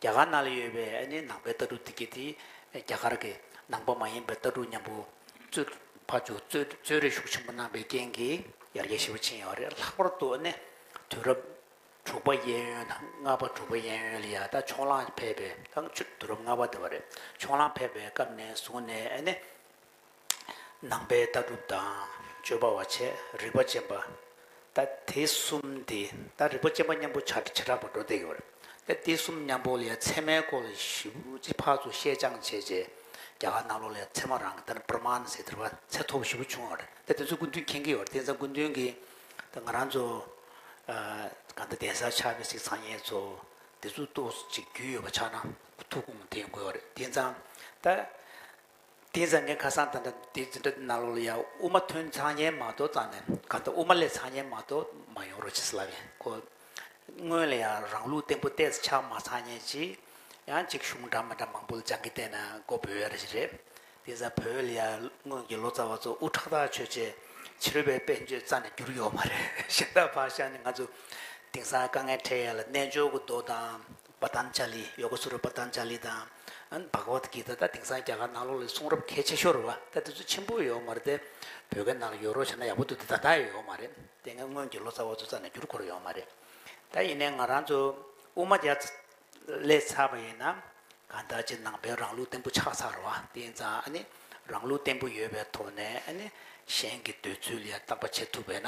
རྒྱ་གར་ནང་ལ་ཡོད་པའི་ཨ་ནེའི་ནང་པའི་ལྟ་གྲུབ་འདི་གའི་དེ་རྒྱ་གར་གྱི་ནང་པ་མ་ཡིན་པའི་ལྟ་གྲུབ་མཉམ་པོ་གཙོས་ཕ་བཅུ་གཙོས་རེ་ཞུགས་ཆེན་པོ་གནང་པའི་རྐྱེན་གྱིས་ཡར་རྒྱས་ཆེན་པོ་ཕྱིན་ཡོད་པ་རེད་ལྷག་པར་དུ་ཨ་ནེ་དུས་རབས་དྲུག་པ་གཡས་གཡོན་དང་ལྔ་པ་དྲུག་པ་གཡས་གཡོན་ལ་ཡང་དག་ཕྱོགས་གླང་ཕལ་པའི་དང་དུས་རབས་ལྔ་པ་དེ་བ་རེད་ཕྱོགས་གླང་ཕལ་པའི་སྐབས་ནས་བཟུང་ནས་ཨ་ནེ། ནང་པའི་ལྟ་གྲུབ་དང་སྤྱོད་པ་བ་ཆེ་རིག་པ་ཅན་པ། ད་དེ་གསུམ་དེ་ད་རིག་པ་ཅན་པ་མཉམ་པོ་བྱ་བྱེ་བྲག་པར་འགྲོ་བསྡད་ཡོད་རེད། ད་དེ་གསུམ་མཉམ་པོ་ལས་ཚད་མའི་སྐོར་ལ་ཞིབ་ཀྱིས་ཕར་ཚུར་བཤད་སྦྱང་བྱས་རྗེས་རྒྱ་གར་ནང་ལོགས་ལས་ཚད་མ་རང་གི་ལྟར་པར་མཱན་ཟེར་དེར་བར་ཚད་ཐོ་བ་ཞིབ་པོ་བྱུང་ཡོད་རེད། ད་དེ་ཚོ་སྐུ་མདུན་མཁྱེན་གྱི་ཡོད་རེད་དེ་ཚང་སྐུ་མདུན་གྱི་ད་ང་རང་ཚོ་གང་ལྟར་གདན་ས་ཆགས་པའི་སྲིད་ཚང་ཡས་ཚོ་དེ་ཚོ་ཏོག་ཅིག་རྒྱུས་ཡོད་པ་ཆགས་ན་ཐུགས་དགོངས་དེ་འགོད་ཡོད་རེད་དེ་ཚང་ད། དེའི་བཟང་ངན་ཁ་སང་ད་ལྟ་དེ་འཛིན་གྲྭ་ནང་ལོགས་ལ་ཡ་དབུ་མ་ཐོན་ཚང་ཉན་མ་ཏོ་ཙང་ནས་ག་ད་དབུ་མ་ལས་ཚང་ཉན་མ་ཏོ་མ་ཡོང་རོགས་བྱེད་ས་ལབ་ཡིན་ཁོ། སྔོན་ལ་ཡ་རང་ལུགས་བརྟན་པོ་བལྟས་ས་ཆགས་མ་ཚང་ཉན་ཅིག་ཡང་གཅིག་གཞུང་འདྲ་མི་འདྲ་མང་པོ་ལ་སྦྱང་གི་བལྟས་ན་ཀོ་བོད་ཡ་རེད་ཞིག་རེད། དེ་ས་བོད་ལ་ཡ་སྔོན་གྱི་ལོ་ཙཱ་བ་ཚོ་དབུ་ཁྲག་དག་ཆོད་ཆེ་བྱི་རུ་བའི་དཔེ་མཆོད་རྩ་ནས་བསྒྱུར་ཡོག་མ་རེད་ཞེ་ད་བག་ཤ་ནི་ང་ཚོ་དེང་སང་དཀའ་ངལ་འཕྲད་ཡ་ལ་རྣལ་འབྱོར་གྱི་མདོ་དང་པཏན་ཇཱ་ལི་ཡོ་ག་སུ་ར་པཏན་ཇཱ་ལི་དང། བྷ་ག་བ་ད་གི་ཏཱ་ད་དེང་སང་རྒྱ་གར་ནང་ལོགས་ལས་གསུང་རབ་གལ་ཆེ་ཤོར་བ་ད་དེ་ཚོ་ཆེན་པོ་ཡོད་མ་རེད་དེ། བོད་སྐད་ནང་ལ་ཡོད་རོགས་བྱས་ན་ཡག་པོ་འདུག་དེ་ད་ལྟ་ཡོད་མ་རེད་དེ་ངའི་སྔོན་གྱི་ལོ་ཙཱ་བ་ཚོ་ཙ་ནས་བསྒྱུར་དགོས་རོགས་ཡོད་མ་རེད་ད་ཡིན་ནའི་ང་རང་ཚོ་དབུ་མ་རྒྱ་ལས་ཚར་བ་ཡིན་ན། ག་ད་ཅི་ནང་པའི་རང་ལུགས་བརྟན་པོ་ཆགས་ཚར་བ་དེ་ཡིན་ཙང་ཨ་ནི་རང་ལུགས་བརྟན་པོ་ཡོད་པའི་ཐོག་ནས་ཨ་ནི་གཞན་གྱི་འདོད་ཚུལ་ཡང་བརྟག་པ་བྱེད་ཐུབ་པས་ན།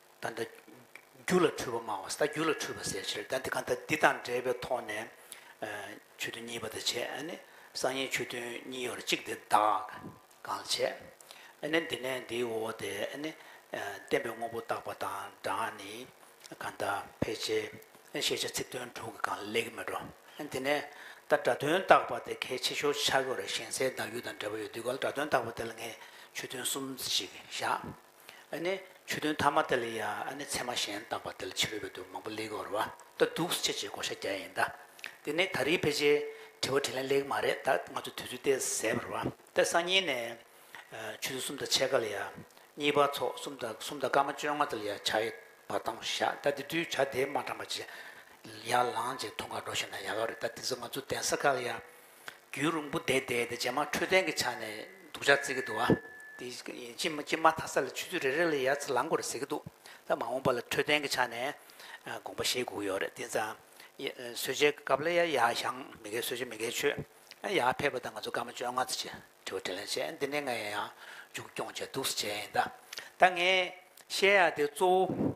ད་ལྟ། རྒྱུ་ལ་འཁྲུལ་པ་མང་བ་ཟད་རྒྱུ་ལ་འཁྲུལ་པ་ཟད་ཕྱིར་ད་འདི་གང་ལྟར་འདི་དང་འབྲེལ་པའི་ཐོག་ནས། ཆོས་དོན་གཉིས་པ་དང་བྱས་ནི། གསང་ཡེའི་ཆོས་དོན་གཉིས་ཡོད་ལ་གཅིག་འདི་དག་གང་ལ་བྱས། ནི་འདི་ནས་འདིའི་འོག་ཏུ་ནི། བསྟན་པའི་དངོས་པོ་བཏགས་པ་དང་སྦྲགས་ནི། གང་དག་ཕལ་ཆེར། ཤེས་བྱ་ཚིག་དོན་དྲུག་གི་གང་ལེགས་མི་འགྲོ། འདི་ནས། ད་སྒྲ་དོན་བཏགས་པ་དེ་གལ་ཆེ་ཤོས་ཆགས་ཀྱི་རེད་ཞེན་སའི་བདག་རྒྱུད་དང་འབྲེལ་པ་ཡོད་དུས་ག་ལ་སྒྲ་དོན་བཏགས་པ་དེ་ལ་ངས་ཆོས་དོན་གསུམ་ཅིག་བཞག། ནི། ཆོས་དོན་ཐ་མ་དེ་ལ་ཡང་ནི་ཚད་མ་གཞན་བཏགས་པ་དེ་ལ་ཕྱི་རོལ་པའི་དོན་མང་པོ་ལེགས་བར་བ་ལྟ་སྡུག་སེལ་བྱེད་བགོ་བཤའ་རྒྱག་ཡིན་ད། དེ་ནི་ད་རིའི་ཕལ་ཆེར་དྲི་བ་དྲིས་ལན་ལེགས་མ་རེད་ད་ང་ཚོ་དུས་ཚོད་བལྟས་ཟེར་བར་བ་ལྟ་སང་ཉིན་ནས། ཆོས་ཚུལ་གསུམ་དང་ཕྱེད་ཀ་ལ་ཡང། གཉིས་པ་ཚོགས་གསུམ་དང་གསུམ་དང་སྐར་མ་བཅོ་ལྔ་དེ་ལ་ཡང་བྱ་ཡི་བར་བཏང་བཞག་ད་དེ་དུས་བྱ་དེ་མ་དྲངས་པ་ཇི་ཡང་ལངས་ཇེ་ཐུང་ག་འགྲོ་བཞིན་ན་ཡག་ག་རེད་ད་དེ་ཚོ་ང་ཚོ་གདན་ས་ཁག་ལ་ཡང། རྒྱུའི་རུང་བུ་བདེ་བདེ་དེ་རྗེས་མ་འཕྲོད་བསྟེན་གྱི་ཆ་ནས་འདུག་ཆགས་བརྩི་གི་འདུག་ཨ། དེ་ཅི་ཅི་མ་ཐ་ས་ལ་ཆུ་ཚོད་རེ་རེ་ལ་ཡར་ཚ་ལངས་དགོས་རེད་ཟེར་གྱི་འདུག་ད་མ་འོངས་པ་ལ་འཕྲོད་བསྟེན་གྱི་ཆ་ནས་དགོངས་པ་བཞེས་དགོས་ཀྱི་ཡོད་རེད་དེ་ཙམ། གསོལ་ཇའི་སྐབས་ལ་ཡར་ཡར་ཞང་མི་དགའི་གསོལ་ཇ་མི་དགའི་ཆོས། ཡར་ཕེབས་པ་དང་ང་ཚོ་སྐར་མ་བཅོ་ལྔ་ཚེ་ཆེ་དྲི་བ་དྲིས་ལན་བྱས་འདི་ནས་ང་ཡང་ཡང་མཇུག་སྐྱོང་བྱས་འདུག་ཟེར་བྱས་ཡིན་ད། ད་ངས་བཤད་ཡག་དེ་གཙོ་བོ།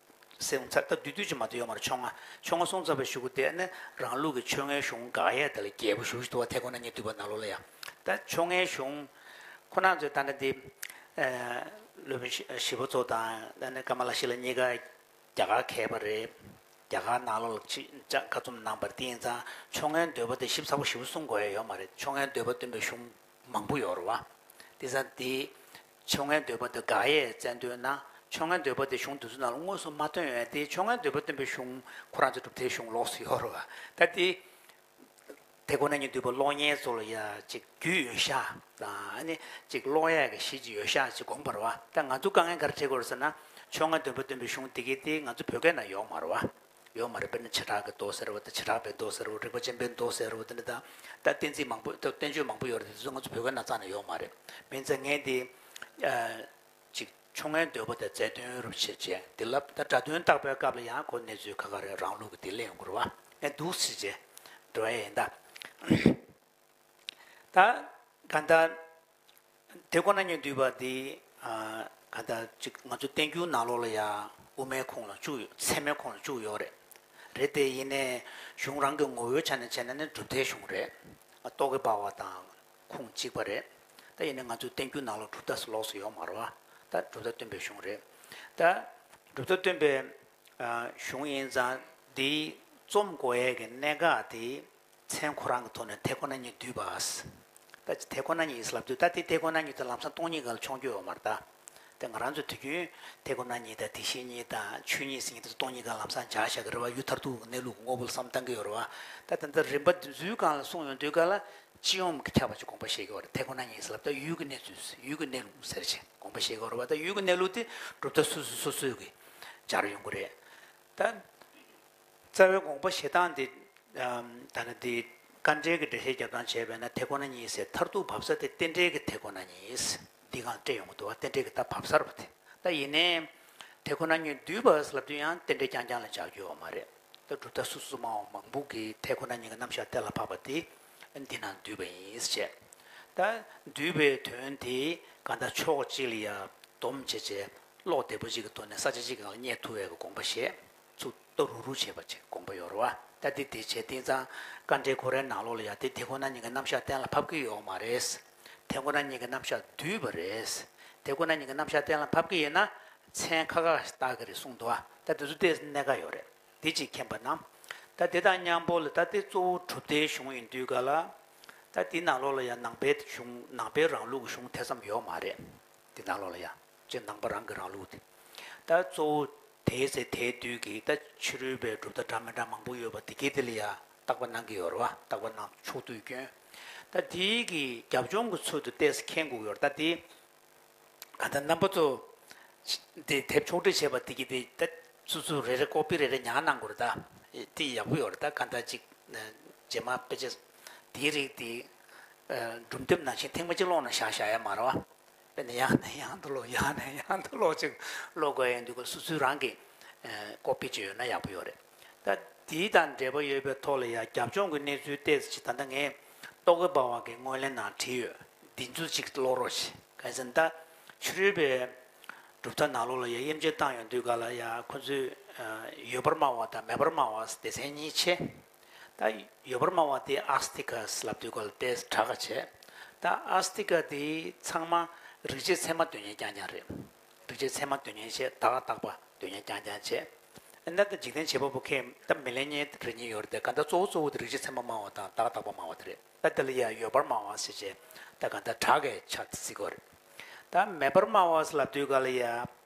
སེམས་ཚར་ཐབས་བདུད་བཏུལ་ཅི་མ་དེ་ཡོང་བར་ཆོ་ང། ཆོ་ང་སྲོང་ཚར་བའི་གཞུག་གུ་དེས་ནི་རང་ལུགས་ཀྱི་ཆོ་ངའི་གཞུང་དགག་དབྱེ་དེ་ལ་རྒྱལ་པོ་བཞུགས་བཞི་དུ་བ་དྷའི་གོང་ན་གཉིས་བཏུལ་བ་ནཱ་ལོ་ལ་ཡང་ད་ཆོ་ངའི་གཞུང། ཁོ་ནར་ཚོས་ད་ནི་འདི། ལུས་པོ་བཞི་པོ་ཚོ་དང་ད་ནི་ཀ་མ་ལ་ཤི་ལ་གཉིས་ཀ་རྒྱ་གར་མཁས་པ་རེད། རྒྱ་གར་ནཱ་ལོ་ལ་ཅི་བྱ་བཀའ་རྩོམ་གནང་བར་དེ་ཡིན་ཙང་ཆོ་ངའི་འདོད་པ་དེ་ཞིབ་ཚགས་པོ་བཞི་པོ་གསུང་དགོས་ཡ་ཡོད་མ་རེད་ཆོ་ངའི་འདོད་པ་སྟོན་པའི་གཞུང་མང་པོ་ཡོད་རུང་བ། དེ་ས་འདི། ཆོ་ངེ་འདོད་པ་འདི་དགག་དབྱེ་བཙལ་འདོད་ན། ཆོ་ངེ་འདོད་པ་དེ་གཞུང་འདི་ཚོ་ནང་ལ་དངོས་སུ་མ་ཐོན་ཡོད་དེ་ཆོ་ངེ་འདོད་པ་སྟོན་པའི་གཞུང་ཁོ་རང་ཚོའི་གྲུབ་མཐའི་གཞུང་ལོགས་སུ་ཡོད་རུང་བ། ད་དེ། དེ་ཁོ་ན་ཉིད་འདུས་པ་གློག་བརྙན་ཚོ་ལ་ཡ་གཅིག་རྒྱུས་ཡོད་ཤག་དང་ཨ་ནི། གཅིག་གློག་ཡས་ཀྱི་གཞི་གཅིག་ཡོད་ཤག་ཅིག་དགོངས་པར་བ། ད་ང་ཚོ་དཀའ་ངལ་ག་རེ་འཕྲད་དགོས་རེད་ཟེར་ན། ཆོ་ངེ་འདོད་པ་སྟོན་པའི་གཞུང་འདི་གའི་དེ་ང་ཚོ་བོད་སྐད་ནང་ཡོག་མ་རུང་བ། ཡོད་མ་རེད་དཔེར་ན་བྱེ་བྲག་གི་མདོ་ཟེར་བ་དང་བྱེ་བྲག་པའི་མདོ་ཟེར་བ་རིག་པ་ཆེན་པོའི་མདོ་ཟེར་བ་དེ་འདྲ་དང་ད་བསྟན་རྩིས་མང་པོ་ད་བསྟན་བཅོས་མང་པོ་ཡོད་རེད་དེ་ཚོ་ང་ཚོ་བོད་སྐད་ནང་ཙང་ནས་ཡོད་མ་རེད་མིན་ཙང་ངས་འདི་ཅིག་ཆོ་ངའི་འདོད་པ་དང་རྫས་སྟོན་རུ་བྱེད་ཅེས་འདི་ལབ་ད་སྒྲ་དོན་བརྟག་པའི་སྐབས་ལ་ཡང་ཁོ་གནས་ཚུལ་ཁ་ཁ་རེད་རང་ལུགས་ཀྱི་དེ་ལས་འགུར་བ་ནས་འདུག་སྲིད་ཅེས་འབྲི་བ་ཡིན་ད། ད་ག་ད། དེ་ཁོ་ན་ཉིད་འདུས་པ་འདི། ག་ད་ཅིག་ང་ཚོ་བསྟན་འགྱུར་ནང་ལོགས་ལ་ཡང་དབུ་མའི་ཁུངས་ལ་བཅུག་ཡོད་ཚད་མའི་ཁུངས་ལ་བཅུག་ཡོད་རེད། རེད་དེ་ཡིན་ནས་གཞུང་རང་གི་ངོ་བོའི་ཆ་ནས་བྱས་ན་ནི་གྲུབ་མཐའི་གཞུང་རེད། རྟོག་གེ་འབར་བ་དང་ཁུངས་གཅིག་པ་རེད། ད་ཡིན་ནས་ང་ཚོའི་བསྟན་འགྱུར་ནང་ལོགས་གྲུབ་མཐའ་སུ་ལོགས་སུ་ཡོད་མ་རོ། ད་གྲུབ་མཐའ་སྟོན་པའི་གཞུང་རེད། ད་གྲུབ་མཐའ་སྟོན་པའི་གཞུང་ཡིན་ཙང་འདིའི་རྩོམ་བསྒོ་ཡས་ཀྱི་གནད་འགག་དེ་མཚན་ཁོ་རང་གི་ཐོག་ནས་དེ་ཁོ་ན་ཉིད་བསྡུས་པ། ད་ཅི་དེ་ཁོ་ན་ཉིད་ཡིན་ལབ་དུས་ད་ལྟའི་དེ་ཁོ་ན་ཉིད་དུ་ལམ་སང་སྟོང་ཉིད་ག་ལ་མཆོང་རྒྱུ་ཡོད་མ་རེད་དཱ། དེ་ང་རང་ཚོས་དུས་རྒྱུན་དེ་ཁོ་ན་ཉིད་དང་དེ་བཞིན་ཉིད་དང་ཆོས་ཉིད་སེམས་ཉིད་དེ་ཚོ་སྟོང་ཉིད་ག་ལ་ལམ་སང་འཇགས་བཞག་གི་རེད་བ་ཡུལ་མཐར་ཐུག་གི་གནས་ལུགས་ཀྱི་ངོ་བོ་ལ་བསམ་བཏང་གི་ཡོད་རེད་བ། ད་དེ་འདྲ་རིམ་པ་འདི་ཚོའི་སྒང་ལ་གསུངས་ཡོང་དུས་ག་ལ་སྤྱི་ཡོངས་ཀྱི་ཁྱབ་པ་ཅིག་དགོངས་པ་བཞེས་དགོས་བ་རེད་དེ་ཁོ་ན་ཉིད་ཡིན་ལབ་ད་ཡུལ་གྱི་གནས་ཚུལ་ཡུལ་གྱི་གནས་ལུགས་ཟེར་བྱས་དགོངས་པ་བཞེས་དགོས་རེད་བ་ད་ཡུལ་གྱི་གནས་ལུགས་དེ་གྲུབ་མཐའ་སུ་སུ་སོ་སོས་ཀྱིས་སྦྱར་ཡོང་གི་རེད་དཱ། རྩ་བའི་དགོངས་པ་ཞེ་སྡང་འདི། ཐ་ན་འདི། དཀའ་འགྲེལ་གྱི་འགྲེལ་བཤད་རྒྱབ་ལྗང་བྱས་པས་ན་དེ་ཁོ་ན་ཉིད་ཟེར་མཐར་ཐུག་བབས་ས་དེ་རྟེན་འབྲེལ་གྱི་དེ་ཁོ་ན་ཉིད། འདི་གང་སྤྲད་ཡོང་གི་འདུག་བ་རྟེན་འབྲེལ་གྱི་རྟགས་བབས་སར་བ་དེ་ལྟ་ཡིན་ནས། དེ་ཁོ་ན་ཉིད་བསྡུས་པར་ལབ་དུས་ཡང་རྟེན་འབྲེལ་རྐྱང་རྐྱང་ལ་འཇགས་རྒྱུ་ཡོད་མ་རེད། ད་གྲུབ་མཐའ་སོ་སོ་མང་བ་མང་པོ་གིས་དེ་ཁོ་ན་ཉིད་ཀྱི་རྣམ་བཞག་གཏན་ལ་ཕབ་པ་དེ། འདི་ན་བསྡུས་པ་ཡིན་བཤད། ད། བསྡུས་པའི་དོན་དེ་ག་ལྟར་ཕྱོགས་གཅིག་ལ་ཡར་བསྡོམས་བྱས་བྱས། ཀློག་བདེ་པོ་ཅིག་གི་ཐོག་ནས་ས་ཆ་གཅིག་གི་ནང་ལ་རྙེད་ཐུབ་འོས་པའི་དགོངས་པ་བཞེས། ཚུགས་གཏོར་རུག་རུག་བྱེད་པ་ཅིག་དགོངས་པ་ཡོད་རོ། ད་དེ་དེ་བྱས་དེང་སང་བཀའ་འགྲེལ་གོ་རེ་ནང་ལོག་ལ་ཡང་དེ་དེ་ཁོ་ན་ཉིད་ཀྱི་རྣམ་བཞག་གཏན་ལ་ཕབ་ཀྱི་ཡོག་མ་རེད། དེ་ཁོ་ན་ཉིད་ཀྱི་རྣམ་བཞག་བསྡུས་པ་རེད། དེ་ཁོ་ན་ཉིད་ཀྱི་རྣམ་བཞག་གཏན་ལ་ཕབ་ཀྱི་ཡིན་ན་མཚན་ཁ་ཁ་བཏགས་ཀྱི་རེད་གསུངས་འདུག་ཨ། ད་དེ་ཚོ་དེས་གནད་ཀ་ཡོག་རེད། དེ་ཅིག་མཁྱེན་པ་ན། ད་དེ་དང་མཉམ་པོ་ལ་ད་དེ་གཙོ་བོ་གྲུབ་མཐའི་གཞུང་ཡིན་དུས་ག་ལ། ད་དེ་ནང་ལོག་ལ་ཡང་ནང་པའི་གཞུང་ནང་པའི་རང་ལུགས་ཀྱི་གཞུང་དེ་ཙམ་ཡོག་མ་རེད། དེ་ནང་ལོག་ལ་ཡང། ཅེས་ནང་པ་རང་གིས་རང་བླུགས་ཏེ། ད་གཙོ་བོ་དེའི་ཚེ་དེའི་དུས་ཀྱི་ད་ཕྱི་རོལ་པའི་གྲུབ་མཐའ་འདྲ་མི་འདྲ་མང་པོ་ཡོད་པ་དེ་གེ་དེ་ལ་ཡང་བརྟག་པ་གནང་གི་ཡོད་རེད་བ་བརྟག་པ་གནང་ཕྱོགས་དུས་སྐྱོན་ད་དེའི་གི་རྒྱབ་ལྗོངས་ཀྱི་ཚུལ་དུ་བལྟས་ས་ཁེངས་འགུག་ཡོད་རེད་ད་དེ་ག་ད་རྣམ་པ་ཚོ་དེ་དེབ་ཕྱོགས་བསྒྲིགས་བྱས་པ་དེ་གེ་དེ་ད་སུ་སུ་རེ་རེ་ཀོ་པི་རེ་རེ་ཉག་གནང་དགོས་རེད་ད་དེ་ཡག་པོ་ཡོད་རེད་ད་ག་ད་ཅིག་རྗེས་མ་དཔེ་ཆ་དེའི་རིགས་དེ་སྒྲུབ་འདེབས་ནང་བཞིན་ཐེངས་མ་གཅིག་ཀློག་ན་བཞག་བཞག་ཡ་མ་རེད་བ། དཔེ་ནི་ཡང་ནས་ཡང་དུ་ཀློག་ཡང་ནས་ཡང་དུ་ཀློག་ཅིག་ཀློག་དགོས་ཡོད་འདུག་གོ་སོ་སོའི་རང་གི་ཀོ་པི་བཅོས་ཡོད་ན་ཡག་པོ་ཡོད་རེད་ད། དེའི་དང་འབྲེལ་པ་ཡོད་པའི་ཐོག་ལ་ཡང་རྒྱབ་ལྗོངས་ཀྱི་གནས་ཚུལ་བལྟས་ཚེ་ད་ལྟ་ངས་རྟོག་གེ་པ་བ་གའི་སྔོན་གླེང་ནང་བྲིས་ཡོད་འདི་ཚོ་ཅིག་ཀློག་རོགས་ཞེས་གལ་སྲིད་ད་ཕྱི་རོལ་པའི་གྲུབ་མཐའ་ནག་ལོ་ལ་ཡང་དབྱེ་འབྱེད་བཏང་ཡོད་འདུག་ག་ལ་ཡང་ཁོ་ཚོས་ཡོད་པར་སྨྲ་བ་དང་མེད་པར་སྨྲ་བ་སྡེ་ཚན་གཉིས་ཆེ། ད་ཡོད་པར་སྨྲ་བ་དེ་ཨཱ་སྟི་ཀ་སི་ལ་བསྡུས་གོལ་ཏེ་གྲགས་ཀ་བྱས། ད་ཨཱ་སྟི་ཀ་དེ་ཚང་མ་རིག་བྱེད་ཚད་མ་འདོད་ཉན་ཀྱང་ཀྱང་རེད། རིག་བྱེད་ཚད་མ་འདོད་ཉན་བྱས་དག་རྟག་པ་འདོད་ཉན་ཀྱང་ཀྱང་བྱས། ཨེ་ན་ད་འཇིག་རྟེན་བྱེད་པ་པོ་ཁས་ད་མི་ལེན་ཉེན་རེ་གཉིས་ཡོད་རེད་དེ་ག་ད་གཙོ་བོ་གཙོ་བོ་དེ་རིག་བྱེད་ཚད་མ་སྨྲ་བ་དང་དག་རྟག་པ་སྨྲ་བ་དེ་རེད་ད་དེ་ལ་ཡང་ཡོད་པར་སྨྲ་བ་སི་བྱས་ད་ག་ད་གྲགས་ཀའི་ཆ་དེ་བརྩི་དགོས་རེད། ད་མེད་པར་སྨྲ་བ་སི་ལ་བསྡུས་ག་ལ་ཡ།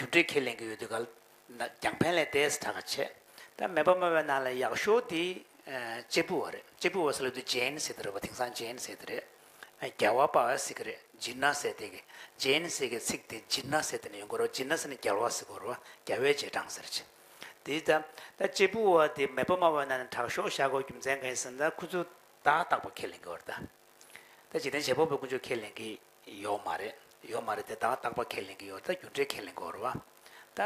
རྒྱུ་འབྲས་ཁས་ལེན་གྱི་ཡོད་དུས་ག་ལ་ན་རྒྱང་ཕན་ལས་ཏེ་ཟེར་གྲགས་ཆེ། ད་མེད་པ་སྨྲ་བའི་ནང་ལ་ཡག་ཤོས་དེ་གཅེར་བུ་བ་རེད་གཅེར་བུ་བ་ཟེར་ལ་དུས་རྗེན་ཟེར་གྱི་རེད་བ་དེང་སང་རྗེན་ཟེར་གྱི་རེད། རྒྱལ་བ་པ་བས་ཟེར་གྱི་རེད་ཇི་ན་ཟེར་དེ་གི། རྗེན་ཟེར་གྱི་ཚིག་དེ་ཇི་ན་ཟེར་དེ་ནས་ཡོང་གི་རོ་ཇི་ན་ཟེར་ནི་རྒྱལ་བ་ཟེར་གི་རོ་རྒྱལ་བའི་རྗེས་འབྲང་ཟེར་གྱི། དེ་ད་ད་གཅེར་བུ་བ་དེ་མེད་པ་སྨྲ་བའི་ནང་ལ་གྲགས་ཤོག་བཞག་གོ་རྒྱུ་མཚན་གང་ཡིན་ཟེར་ན་ད་ཁོ་ཚོས་ད་རྟག་པ་ཁས་ལེན་གྱི་བ་རེད་ད། ད་འཇིག་རྟེན་བྱེད་པོ་བའི་དཀོན་མཆོག་ཁས་ལེན་གྱི་ཡོག་མ་རེད་ཡོག་མ་རེད་དེ་དག་རྟག་པ་ཁས་ལེན་གི་ཡོག་ད་རྒྱུ་འབྲས་ཁས་ལེན་གི་འོར་བ། ད་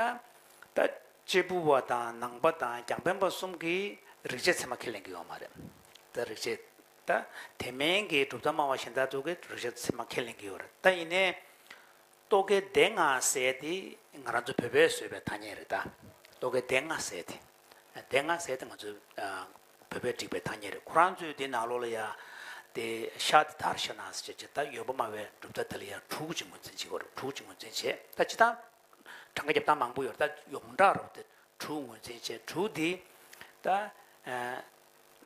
ད་གཅེར་བུ་བ་དང་ནང་པ་དང་རྒྱང་པན་པ་གསུམ་གིས་རིག་བྱེད་ཚད་མ་ཁས་ལེན་གི་ཡོག་མ་རེད་ད་རིག་བྱེད་ད་དེ་མིན་གི་གྲུབ་མཐའ་སྨྲ་བ་གཞན་དག་ཏུ་གི་རིག་བྱེད་ཚད་མ་ཁས་ལེན་གི་ཡོག་རེད་ད་ཡིན་ནའི་རྟོག་གེ་བདེན་ལྔ་ཟེར་དེ་ང་རང་ཚོ་བོད་པས་བཟོས་པའི་ཐ་སྙད་རེད་ད་རྟོག་གེ་བདེན་ལྔ་ཟེར་དེ་བདེན་ལྔ་ཟེར་དེ་ང་ཚོས་བོད་པས་བསྒྲིགས་པའི་ཐང་ཉེ་རེད་ཁོ་རང་ཚོས་དེ་ནང་ལོགས་ལ་ཡར། དེ། ཤག་དེ་དར་ཤག་ནང་ཟེར་བྱས་ད་ཡོད་པོ་སྨྲ་བའི་གྲུབ་མཐའ་དེ་ལ་ཡར་དྲུག་ཅིག་ངོས་འཛིན་བྱེད་དགོས་རེད་དྲུག་ཅིག་ངོས་འཛིན་བྱས་ད་སྤྱི་ཐང། གྲངས་ཀ་རྒྱབ་སྟངས་མང་པོ་ཡོད་རེད་ད་ཡོངས་གྲགས་རོགས་དེ་དྲུག་ངོས་འཛིན་བྱས་དྲུག་དེ། ད།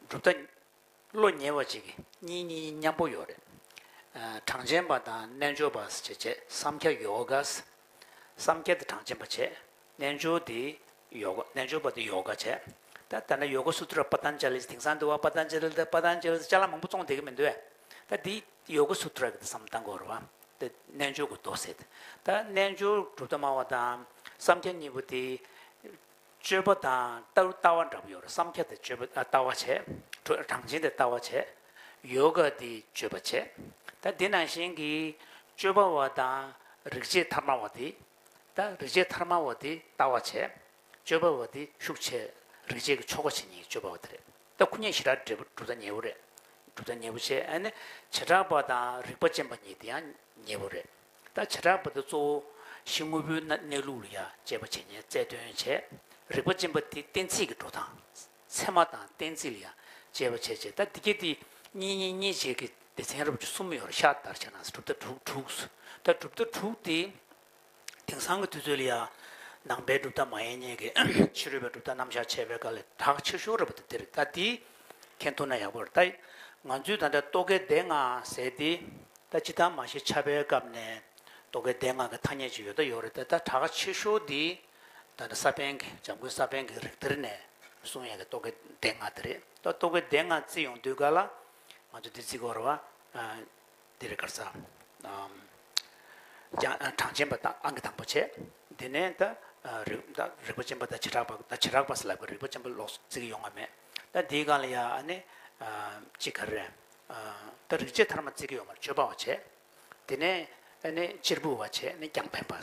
གྲུབ་མཐའ། བློ་ཉེ་བ་ཅིག་གིས་གཉིས་གཉིས་གཉིས་མཉམ་པོ་ཡོད་རེད། གྲངས་ཅན་པ་དང་རྣལ་འབྱོར་པ་ཟེར་བྱས་བསམ་ཁྱ་ཡོ་ག། བསམ་ཁྱད་དེ་གྲངས་ཅན་པ་བྱས། རྣལ་འབྱོར་དེ་ཡོ་ག་རྣལ་འབྱོར་པ་དེ་ཡོ་ག་བྱེད། ད་ལྟ་ཡོ་ག་སུ་ཐུར་པ་ཏཱན་ཅཱ་ལིས་དེང་སང་འདུལ་བ་པ་ཏཱན་ཅཱ་ལི་དང་པ་ཏཱན་ཅཱ་ལིས་ལྕགས་ལམ་མང་པོ་བཙོངས་བསྡད་ཀྱི་མི་འདུག་བས། ད་འདི་ཡོ་ག་སུ་ཐུར་གྱི་བསམ་གཏན་གོ་རུ་བ། དེ་རྣལ་འབྱོར་གྱི་མདོ་ཟེར་ཏེ། ད་རྣལ་འབྱོར་གྲུབ་མཐའ་སྨྲ་བ་དང་བསམ་ཁྱ་གཉིས་པོ་དེ། སྤྱོད་པ་དང་ལྟ་བུ་ལྟ་བ་འདྲ་པོ་ཡོད་རེད་བསམ་ཁྱ་དེ་སྤྱོད་པ་ལྟ་བ་བྱེད། གྲངས་ཅན་དེ་ལྟ་བ་བྱེད། ཡོ་ག་དེ་སྤྱོད་པ་བྱེད། ད་འདི་ནང་བཞིན་གྱི་སྤྱོད་པ་བ་དང་རིག་བྱེད་མཐའ་སྨྲ་བ་དེ། བདག་རིག་བྱེད་དྷརྨ་བོ་དྷི་ལྟ་བ་བྱས། སྤྱོད་པ་བོ་དྷི་ཤུགས་ཆེ། རིག་བྱེད་ཀྱི་ཆོ་ག་ཇི་སྙེད་སྤྱོད་པ་བོ་དྷི་རེད། ད་ཁུ་ཉེ་ཞི་རགས་འབྲས་བུ་གྲུབ་ད་ཉེ་བོ་རེད། གྲུབ་ད་ཉེ་བོ་བྱས་ནས་བྱེ་བྲག་པ་དང་རིག་པ་ཅན་པ་ཉིད་དེ་ཡང་ཉེ་བོ་རེད། ད་བྱེ་བྲག་པ་དེ་གཙོ་བོ་གཞི་དངོས་པོའི་གནས་ལུགས་ལ་ཡང་དཔྱད་པ་བྱས་ནས་རྩལ་སྟོན་བྱས། རིག་པ་ཅན་པ་དེ་གཏན་ཚིགས་ཀྱི་འགྲོ་སྟངས། ཚད་མ་དང་གཏན་ཚིགས་ལ་ཡང་དཔྱད་པ་བྱེད་ཅེས་ད་འདི་སྐད་དེ། གཉིས་གཉིས་གཉིས་བྱེད་ཀྱི་སྡེ་ཚན་རབ་བྱུང་གསུམ་མོ་ཡོད་ལ་ཤར་དར་བྱས་ན་གྲུབ་མཐའ་དྲུག་དྲུག་གོ། ད་གྲུབ་མཐའ་དྲུག་དེ། དེང་སང་གི་དུས་ཚོད་ལ་ཡང་ནང་པའི་གྲུབ་མཐའ་མ་ཡིན་སྙད་ཀྱི་ཕྱི་རོལ་པའི་གྲུབ་མཐའ་རྣམ་གཞག་བྱས་པའི་སྐབས་ལས་གྲགས་ཆེར་ཤོར་རབས་ད་འདིར་ད་འདི་མཁྱེན་ཐུབ་ན་ཡག་པོ་རེད་ད། ང་ཚོས་ད་ལྟ་རྟོག་གེའི་བརྡའི་ངག་ཟེར་ཏེ། ད་ཇི་ལྟར་མ་ཤེས་ཆགས་པའི་སྐབས་ནས་རྟོག་གེའི་བརྡའི་ངག་གི་ཐ་སྙད་ཅིག་ཡོད་ད་ཡོད་རེད་ད་ད་གྲགས་ཆེར་ཤོར་འདི། ད་ནི་ས་པཎ་གྱི་འཇམ་མགོན་ས་པཎ་གྱི་རིགས་གཏེར་ནས་གསུང་ཡས་ཀྱི་རྟོག་གེའི་སྡེ་ལྔ་དེ་རེད་ད་རྟོག་གེའི་སྡེ་ལྔ་བརྩི་ཡོང་དུས་ག་ལ། ང་ཚོ་འདི་བརྩི་འོར་བ། འདི་རེད་གར་ས། གྲངས་ཅན་པ་དང་ཨང་གི་དང་པོ་བྱས། དེ་ནས་ད་རིག་པ་ཅན་པ་དང་བྱེ་བྲག་པ་ད་བྱེ་བྲག་པ་སེ་ལ་པའི་རིག་པ་ཅན་པ་ལོགས་སུ་བརྩི་གི་ཡོང་བ་མེད། ད་འདིའི་སྒང་ལ་ཡ་ཨ་ནི། ཅི་ག་རེ། ད་རིག་བྱེད་ཐར་མ་བརྩི་གི་ཡོང་བར་ཆོས་པ་བ་བྱས། དེ་ནས་ཨ་ནི་གཅེར་བུ་བ་བྱས་ནས་རྒྱང་ཕན་པ།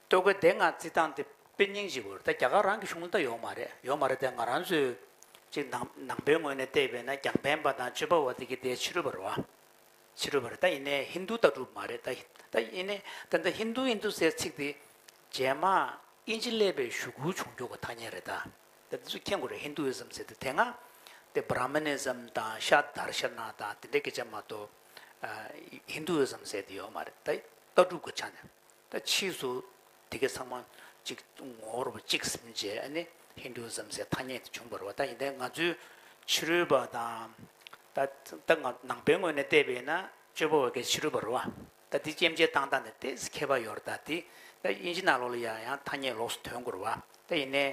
སྟོད་གོས་དེ་ང་རྩིས་སྟངས་དེ་དཔེ་རྙིང་ཞིག་གོ་རེད་ད་རྒྱ་གར་རང་གི་གཞུང་ལྟར་ཡོག་མ་རེད་ཡོག་མ་རེད་དེ་ང་རང་ཚོས་ཅིག་ནང་ནང་པའི་ངོས་ནས་བལྟས་པས་ན་རྒྱང་འཕེན་པ་དང་སྤྱོད་པ་བ་དེ་གི་དེ་ཕྱི་རོལ་པ་རེད་བ་ཕྱི་རོལ་པ་རེད་ད་ཡིན་ནའི་ཧིན་རྡུ་ལྟ་གྲུབ་མ་རེད་ད་ད་ཡིན་ནའི་ད་འདི་ཧིན་རྡུ་ཧིན་རྡུ་ཟེར་ཚིག་དེ་རྗེས་མ་དབྱིན་ཇི་ཀླད་པའི་ཞུ་སྒུར་བྱུང་རྒྱུག་གི་ཐ་སྙད་རེད་ད་ད་འདི་ཚོ་མཁྱེན་དགོས་རེད་ཧིན་རྡུ་ཨི་སམ་ཟེར་དེ་དེ་སྔ་དེ་བྷ་ར་མི་ནི་སམ་དང་ཤ་དར་ཤ་ན་དང་དེ་འདྲའི་སྐད་ཆ་མ་གཏོགས་ཧིན་རྡུ་ཨི་སམ་ཟེར་དེ་ཡོག་མ་རེད་ད་ལྟ་གྲུབ་གི་ཆ་ནས་ད་ཕྱིས་སུ་དེ་གའི་ཚང་མ་གཅིག་ངོ་བོར་གཅིག་ཟིན་རྗེས་ནི་ཧིན་དུའུ་ཟམ་ཟེ་ཐ་སྙད་དེ་བྱུང་བར་བ་ད་ཡིན་ད་ང་ཚོའི་ཕྱི་རོལ་པ་དང་ད་ང་ནང་པའི་ངོས་ནས་བལྟས་པས་ན་སྤྱོད་པ་བ་གའི་ཕྱི་རོལ་པ་རུ་བ་ད་དེ་སྐྱེམས་བྱེད་བཏང་སྟངས་དེ་ཏེ་སི་ཁེ་བ་ཡོར་ད་དེ་ད་དབྱིན་ཇི་ནང་ལོགས་ལ་ཡང་ཡང་ཐ་སྙད་ལོགས་སུ་དོན་གོར་བ་ད་ཡིན་ནའི་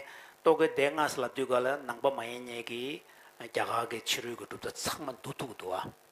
རྟོག་གེ་དེ་སྔ་ས་ལ་དུས་ག་ལ་ནང་པ་མ་ཡིན་ཉེས་ཀྱིས་རྒྱ་གར་གའི་ཕྱི་རོལ་གྱི་གྲུབ་མཐའ་ཚང་མ་འདུ་ཐུག་འདུ་བ།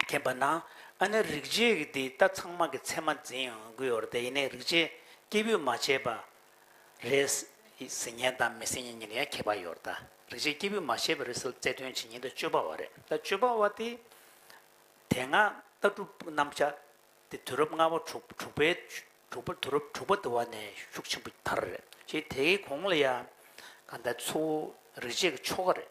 མཁྱེན་པ་ན་ཨ་ནི་རིག་བྱེད་ཀྱི་འདི་ལྟ་ཚང་མ་གི་མཚན་མ་འཛིན་ཡང་དགོས་བར་དེ་ཡིན་ནའི་རིག་བྱེད་སྐྱེས་བུས་མ་བྱས་པ་རེད། ཟིན་ཉེན་དང་མི་ཟིན་ཉེན་གཉིས་ལ་ཡང་ཁྱད་པར་ཡོད་རྟ། རིག་བྱེད་སྐྱེས་བུས་མ་བྱས་པ་རེད་ཟེར་བཙལ་དོན་བྱེད་ཉེན་དུ་སྤྱོད་པ་བ་རེད་ལ་སྤྱོད་པ་བ་དེ་དེ་སྔ་ལྟ་གྲུབ་རྣམ་བཞག་དེ་དུས་རབས་ལྔ་བ་དྲུག་དྲུག་པའི་དྲུག་པ་དུས་རབས་དྲུག་པ་དུ་བ་ནས་ཤུགས་ཆེན་པོ་དར་རེད་ཀྱི་དེའི་གོང་ལ་ཡང་གང་ལྟར་ཚུ་བོ་རིག་བྱེད་ཀྱི་ཆོ་ག་རེད།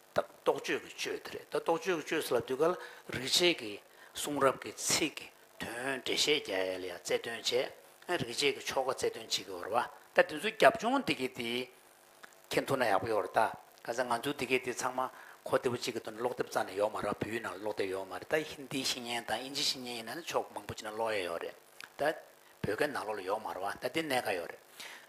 ད་རྟོག་དཔྱོད་ཀྱི་དཔྱོད་དེ་རེད་ད་རྟོག་དཔྱོད་ཀྱི་དཔྱོད་ཟེར་ལབ་དུས་ཀ་ལ་རིག་བྱེད་ཀྱི་གསུང་རབ་ཀྱི་ཚིག་གི་དོན་འགྲེལ་བཤད་རྒྱ་ཡལ་ཡང་རྩལ་སྟོན་བྱས། རིག་བྱེད་ཀྱི་ཆོ་ག་རྩལ་སྟོན་བྱེད་ཀྱི་བོར་བ་ད་དེ་ཚོའི་རྒྱབ་ལྗོངས་འདི་གས་དེ་ཁེན་ཐུག་ན་ཡག་པོ་ཡོད་རེད་ད། ག་ཚད་ང་ཚོའི་འདི་གས་དེ་ཚང་མ་གོ་བདེ་པོ་ཅིག་གི་དོན་ཀློག་དེབ་རྩ་ནས་ཡོག་མ་རག་བོད་ཡིག་ནང་ཀློག་དེབ་ཡོག་མ་རེད་ད་ཧིན་དིའི་ཤིང་ཉན་དང་ཨིན་ཇིའི་ཤིང་ཉན་ཡིན་ན་ནི་ཕྱོགས་མང་པོ་ཅིག་ནས་ཀློག་ཡས་ཡོག་རེད་ད། བོད་སྐད་ནང་ཀློག་ལ་ཡོག་མ་རེད་བ་ད་དེ་གནད་ཀ་ཡོག་རེད།